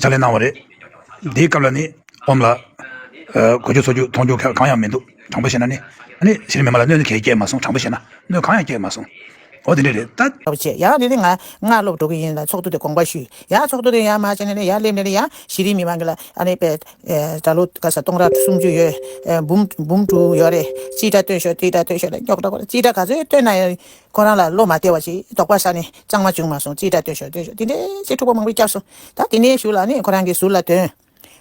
ཕྱག་ལས་གནང་བ་རེད། དེའི་སྐབས་ལ་ནི་ཨོམ་ལ། གོས་རྒྱུ་འཚོ་རྒྱུ་མཐོང་རྒྱུ་གང་ཡང་མི་འདུག་དྲང་པོ་བཤད་ན་ནི། ནི་གཞི་རིམ་མི་མང་ལ་གནོད་ནི་གས་སྐྱེས་མ་སོང་དྲང་པོ་བཤད་ན་གནོད་གང་ཡང་སྐྱེས་མ་སོང། འོ་དེ་འདྲས་རེད་ད། ལྟ་བུ་བྱས་ཡང་རེ་རེ་ང་སྔར་སློབ་འགྲོ་གི་ཡིན་ལ་ཚོགས་འདུ་དེ་དགོངས་པ་ཞུས་ཡང་ཚོགས་འདུ་དེ་ཡང་མ་བྱས་ནས་ནི་ཡང་སླེབས་ནས་ནི་ཡང་གཞི་རིམ་མི་མང་གི་ལ་ཨ་ནི་པད་ཟླ་ལོ་ག་ས་སྟོང་ར་སུམ་ཅུ་ཡོད། འབུམ་འབུམ་དྲུག་ཡོད་རེད་ཅི་འདྲ་བཏོན་ཤོག་ཅི་འདྲ་བཏོན་ཤོག་ལ་རྙོག་དྲ་གོ་ལ་ཅི་འདྲ་ག་ཚོད་བཏོན་ན་ཡང། ཁོ་རང་ལ་བློ་མ་བདེ་བ་ཞིག་དོགས་པ་ཟ་ནས་ཅང་མ་བྱུང་མ་སོང་ཅི་དྲག་སྟོན་ཞོར་སྟོན་ཞོར་དེ་འདྲའི་ཚེ་འཁྲུག་པོ་མང་པོ་བསྐྱབས་སོང་ད་དེ་འདྲའི་ཞུགས་ལ་ནི་ཁོ་རང་གི་ཟུར་ལ་དོན་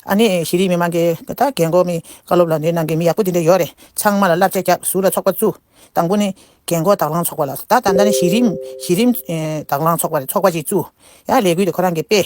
ཨ་ནི་གཞི་རིམ་མི་མང་གི་ད་ལྟ་རྒན་གོག་མི་བཀའ་སློབ་ལ་འདི་གནང་མཁན་མི་ཡག་པོ་དེ་འདྲ་ཡོད་རེད་ཚང་མ་ལ་བསླབ་བྱ་བརྒྱབ་ཟུར་ལ་ཚོགས་པ་བཙུགས་དང་པོ་ནི་རྒན་གོག་དྭགས་གླང་ཚོགས་པ་ལ་ད་ད་ལྟ་ནི་གཞི་རིམ་གཞི་རིམ་དྭགས་གླང་ཚོགས་པ་རེད་ཚོགས་པ་ཞིག་བཙུགས་ཡ་ལས་འགུལ་དེ་ཁོ་རང་གི་དཔེ།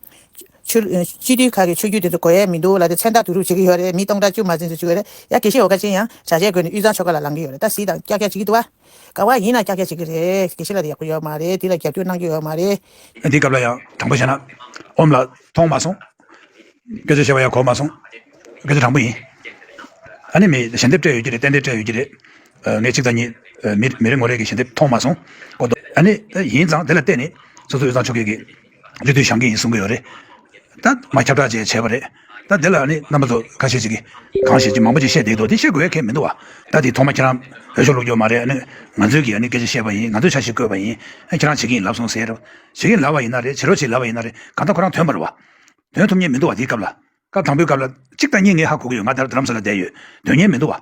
ཆུ། སྤྱི་འཐུས་ཁག་གི་ཆོས་བརྒྱུད་དེ་ཚོ་གོ་ཡས་མི་འདུག་ལ་དེ་མཚན་རྟགས་བསྡུ་རུབ་བྱེད་ཀྱི་ཡོད་རེད་མི་སྟོང་ཕྲག་བཅུ་མ་ཟིན་དུ་བཅུག་ཡོད་རེད་ཡ་དགེ་བཤེས་འོ་དཀར་ཅན་ཡང་བྱ་བྱས་དགོས་ནས་གཡུ་བཟང་ཆོས་སྒར་ལ་ལང་གི་ཡོད་རེད་ད་བཟི་དང་ཀྱག་ཀྱག་བྱེད་ཀྱི་འདུག་བ། ག་བ་ཡིན་ན་ཀྱག་ཀྱག་བྱེད་ཀྱི་རེད་དགེ་བཤེས་ལ་དེ་ཡག་པོ་ཡོད་མ་རེད་དེ་ལ་རྒྱབ་སྐྱོར་གནང་རྒྱུ་ཡོད་མ་རེད། འདི་སྐབས་ལ་ཡང་དྲང་པོ་བཤད་ན་འོམ་ལགས། མཐོང་མ་སོང། སྐད་ཆ་བཤད་པ་ཡང་གོ་མ་སོང། སྐད་ཆ་དྲང་པོ་ཡིན། ཨ་ནི་མི་ཞལ་འདེབས་སྤྲད་ཡོད་ཀྱི་རེད་ཏན་ཏན་སྤྲད་ཡོད་ཀྱི་རེད། ངས་གཅིག་དང་གཉིས། མི་རེ་ངོ་རེ་གི་ཞལ་འདེབས་མཐོང་མ་སོང། གོ། ཨ་ནི་ཡིན་ཙང་དེ་ལ་བརྟེན་ནས་སོ་སོ་གཡུ་བཟང་ཆོས་སྒར་གྱི། རྒྱུ་དུས་བྱང་གི་ཡིན་གསུང་གི་ཡོད་རེད། ད་མ་ཁྱབ་བསྒྲགས་བཅས་བྱས་པ་རེད། ད་དེ་ལ་ནི་རྣམ་པ་ཚོ་ཁ་ཤས་ཅིག་གིས་གང་བཤད་ཅི་མང་པོ་ཅིག་བཤད་བསྡད་འདུག་དེ་བཤད་དགོས་ཡ་ཁེ་མི་འདུག་བ། ད་དེ་ཐོག་མ་ཁྱེད་རང་འོས་ཤོག་བླུག་རྒྱུ་མ་རེད་ནི། ང་ཚོས་ཀྱིས་ནི་སྐད་ཆ་བཤད་པ་ཡིན་ང་ཚོས་ཆ་ཞིག་བཀོད་པ་ཡིན། ཁྱེད་རང་བྱེད་ཀྱི་ཡིན་ལབ་སོང་ཟེར་རེད། བྱེད་ཀྱི་ལབ་བ་ཡིན་ན་རེད་བྱེད་རོགས་བྱེད་ལབ་བ་ཡིན་ན་རེད་གང་ལྟར་ཁོ་རང་དོན་པར་བ། དོན་ཐུབ་ཉེན་མི་འདུག་བ་དེའི་སྐབས་ལ། སྐབས་དང་པོའི་སྐབས་ལ། གཅིག་དང་གཉིས་ངས་ཧ་གོ་གི་ཡོད་ང་ད་རབ་དུ་རམ་ས་ལ་བསྡད་ཡོད། དོན་ཉེན་མི་འདུག་བ།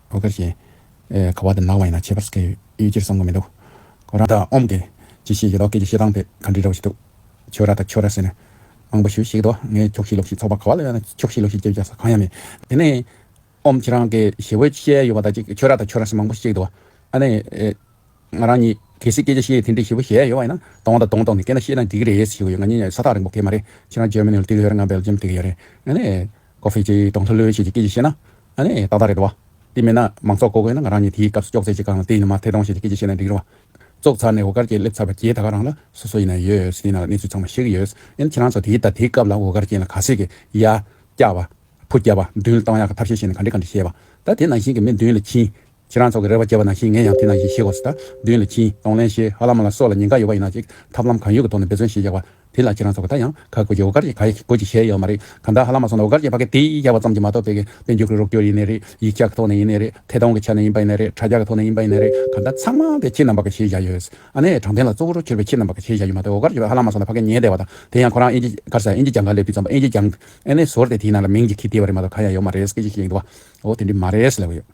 བུ་དཀར་ཞེས། ཁ་བ་དང་ནག་བ་ཡིན་ན་ཁྱད་པར་སྐད་ཡོད་ཡོད་ཅེར་བསམ་དགོས་མི་འདུག་གོ། རང་དང་ཨོམ་སྐད། ཅེས་བཤད་རྒྱུ་ལོག་སྐད་ཀྱི་བཤད་སྟངས་དེ་ག་འདྲི་འདྲ་བོ་ཞིག་འདུག་ཆོས་ར་དང་ཁྱོ་ར་ཟེར་ནས། མང་པོ་ཞུས་ཤིག་དོ། ངས་ཁྱོགས་ཤིག་ལོག་ཤིག་ཚོགས་པ་ག་བ་ལ་ཡོད་ན་ཁྱོགས་ཤིག་ལོག་ཤིག་ཅེས་བརྒྱག་ས་གང་ཡང་མེད། དེ་ནས། ཨོམ་ཁྱེད་རང་སྐད་ཞེ་བོའི་བཤད་ཡོད་པ་དང་གཅིག་ཆོས་ར་དང་ཁྱོ་ར་ཟེར་མང་པོ་བཤད་འདུག་ཨ་ནི། ང་རང་ཉིད་གལ་སྲིད་སྐད་ཆ་བཤད་ཡུལ་དེ་འདྲའི་ཞེ་བོ་གཞན་ཡོད་པ་ཡིན་ན་དང་བ་དང་གདོང་གཏོགས་ནས་སྐད་ན་བཤད་ན་འགྲིག་གི་རེད་ཟེར་གྱི་ཡོད་ང་ཉིད་ས་ཐག་རིང་པོ་གད་མ་རེད་ཁྱེད་རང་ཇར་མ་ནི་ལ་འདུག་གི་ཡོད་རེད་ང་སྦེལ་ཇམ་འདུག་གི་ཡོད་རེད་ཨ་ནི། ཁོ་ཧྥེ་ཅེས་གྲོང་ཚོ་ལོན་ཤེས་ཀྱི་སྐད་ཀྱིས་བཤད་ན། ཨ་ནི། ཏག་ཏག་རེད་དོ། དེ་མིན་ན། མང་ཚོགས་གོ་དགོས་ན་ང་རང་ཉིད་དེའི་སྐབས་སུ་ཅོག་ཙེ་གཅིག་གང་ལ་བལྟས་ནས་མ་ཐེ་གྲོང་ཤེས་ཀྱི་སྐད་ཀྱིས་བཤད་ན་འགྲིག་རུང་བ། བཙོག་ཚར་ནས་འོ་དཀར་སྐྱེས་སླེབས་ཚར་བ་རྒྱའི་ད་ག་རང་ལ་སོ་སོ་ཡིན་ན་ཡོད། སྲིད་ན་ལ་གནས་ཚུལ་ཚང་མ་ཤེས་ཀྱི་ཡོད། ཨན་ཁྱེད་རང་ཚོ་དེའི་ད་དེའི་སྐབས་ལ་འོ་དཀར་སྐྱེས་ན་ག་ཟེ་གི། ཡ། སྐྱག་པ། བུ་སྐྱག་པ། མདུན་ལ་བཏང་ཡག་གི་ཐབས་ཤེས་བཤད་ནས་ག་འདྲི་ག་འདྲི་བཤད་པ། ད་དེ་ནང་བཞིན་གྱི་མི་མདུན་ལ་ཕྱིན། ཁྱེད་རང་ཚོ་གི་རེ་བ་བརྒྱད་པ་ནང་བཞིན་ངས་ཡང་དེ་ནང་བཞིན་ཞེས་གོ་ས་དང་བདུན་ལ་ཁྱིན་གདོང་ལེན་ཞེས་ཧ་ལམ་མ་ལ་སོགས་ལ་ཉེན་ཁ་ཡོད་པ་ཡིན་ན་ཅིག་ཐབས་ལམ་གང་ཡོད་ཀྱི་ཐོག་ནས་འབད་བརྩོན་ཞེས་བཞག་པ་དེ་ལ་ཁྱེད་རང་ཚོ་གི་ད་ཡང་ཁ་དགོད་ཀྱི་འོ་གར་ཅིག་ག་ཡག་གི་དགོད་ཅིག་བྱས་ཡོད་མ་རེད་གམ་ད་ཧ་ལམ་མ་སོང་ན་འོ་གར་ཅིག་ཕ་གི་དེ་བཞག་པ་ཙམ་གྱིས་མ་གཏོགས་དེ་གི་དཔེ་འཇོག་གི་རོགས་སྐྱོར་ཡིན་ནི་རེད་ཡིག་ཆ་གི་ཐོག་ནས་ཡིན་ནི་རེད་ཐད་གཏོང་གི་ཆ་ནས་ཡིན་པ་ཡིན་ནི་རེད་དྲ་རྒྱ་གི་ཐོག་ནས་ཡིན་པ་ཡིན་ནི་རེད་གམ་ད་ཚང་མ་དེ་ཁྱེད་རྣམ་པ་གི་ཞེས་བཞག་ཡོད་ཨ་ནེ་དྲང་བདེན་ལ་གཙོ་བོ་རུ་གྱུར་པའི་ཁྱེད་རྣམ་པ་གི་ཞེས་བཞག་ཡོད་མ་ཏེ་འོ་གར་ཅིག་ཧ་ལམ་མ་སོང་ན་ཕ་གི་ཉེས་བསྡད་པ་དང་དེ་ཡང་ཁོ་རང་ཨིན་ཇི་གར་ས་ཨིན་ཇི་གྱང་གར་སླེབས་དུས་ཙམ་པོ་ཨིན་ཇི་གྱང་ཨེ་ནེ་ཟོར་དེ་དེའི་ནང་ལ་མིང་ཅིག་གིས་བསྡད་པ་རེད་མ་གཏོགས་གང་ཡང་ཡོད་མ་རེད་སྐད་ཅིག་ཤེས་ཡིན་དུ་བ་འོ་དེ་འདྲས་མ་རེད་ལབ་ཡོད།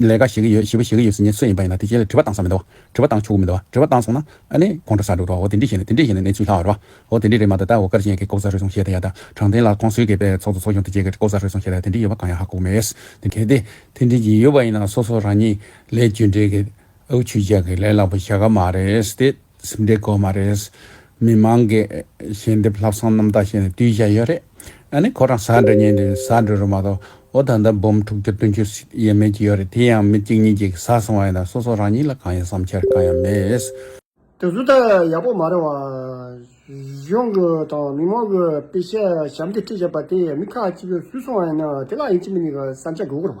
ལས་ཀ་བྱེད་ཀྱི་ཡོད་ཞེས་པ་བྱེད་ཀྱི་ཡོད་ཟེར་ཉེན་ཚོད་ཡིན་པ་ཡིན་ན་དེ་རྗེས་ལ་དྲི་བ་བཏང་ས་མི་འདུག་དྲི་བ་བཏང་ཆོག་གི་མི་འདུག་དྲི་བ་བཏང་སོང་ན་ཨ་ནི་གོང་འཕྲོ་ས་འགྲོ་རོགས་དེ་འདྲས་བྱས་ནས་དེ་འདྲས་བྱས་ནས་གནས་ཚུལ་ལྷག་རོགས་ཨོ་དེ་འདྲས་རེད་མ་ད་ད་འོ་དཀར་ཅན་གྱི་ལྐོག་ཟ་རུལ་སུངས་བྱས་ད་ཡ་ད་དྲང་བདེན་ལ་ཁོང་ཚོའི་སྐད་པས་ཚོགས་གཙོ་ཚོགས་ཆུང་དེ་བཅས་ཀྱི་ལྐོག་ཟ་རུལ་སུངས་བྱས་ད་ཡ་དེ་འདྲས་ཡོད་པ་གང་ཡང་ཧ་གོ་མེད་དེ་གལ་ཏེ་དེ་འདྲས་ཀྱི་ཡོད་པ་ཡིན་ན་སོ་སོ་རང་ཉིད་ལས་རྒྱུ་འབྲས་ཀྱི་ཨའུ་ཆུ་རྒྱག་གི་ལས་སླ་པོ་བྱ་ག་མ་རེད་དེ། སེམས་སྡེ་གོ་མ་རེད། མི་མང་གི་ཞལ་འདེབས་ལྷག་བསམ་རྣམ་དག་བྱས་ནས་དུས་བཞག་ཡོད་རེད། ཨ་ནི་ཁོ་རང་ཟ་འདྲ་ཉལ་འདྲའི་ཟ་འདྲ་རུ་མ་གཏོགས་འོ་ད་ལྟ་འབུམ་དྲུག་ཅུ་དོན་ཅུ་ཡས་མས་ཀྱི་ཡོད་རེད་དེ་ཡང་མི་གཅིག་གཉིས་ཀྱིས་ཟ་སོང་བ་ཡིན་ན་སོ་སོ་རང་ཉིད་ལ་གང་ཡང་བསམ་འཆར་གང་ཡང་མེད། དེ་གཟུ་དག་ཡག་པོ་མ་རེད་བ། གཞུང་གི་དང་མི་མང་གི་སྤེ་ཞལ་ཞབས་འདེབས་ཁྲིད་བྱས་པ་དེ་མི་ཁག་གཅིག་གིས་ཟུས་སོང་བ་ཡིན་ན་དེ་ལ་ཡིན་གཅིག་མིན་གཉིས་ཀྱི་བསམ་འཆར་དགོས་སྐོར་བ།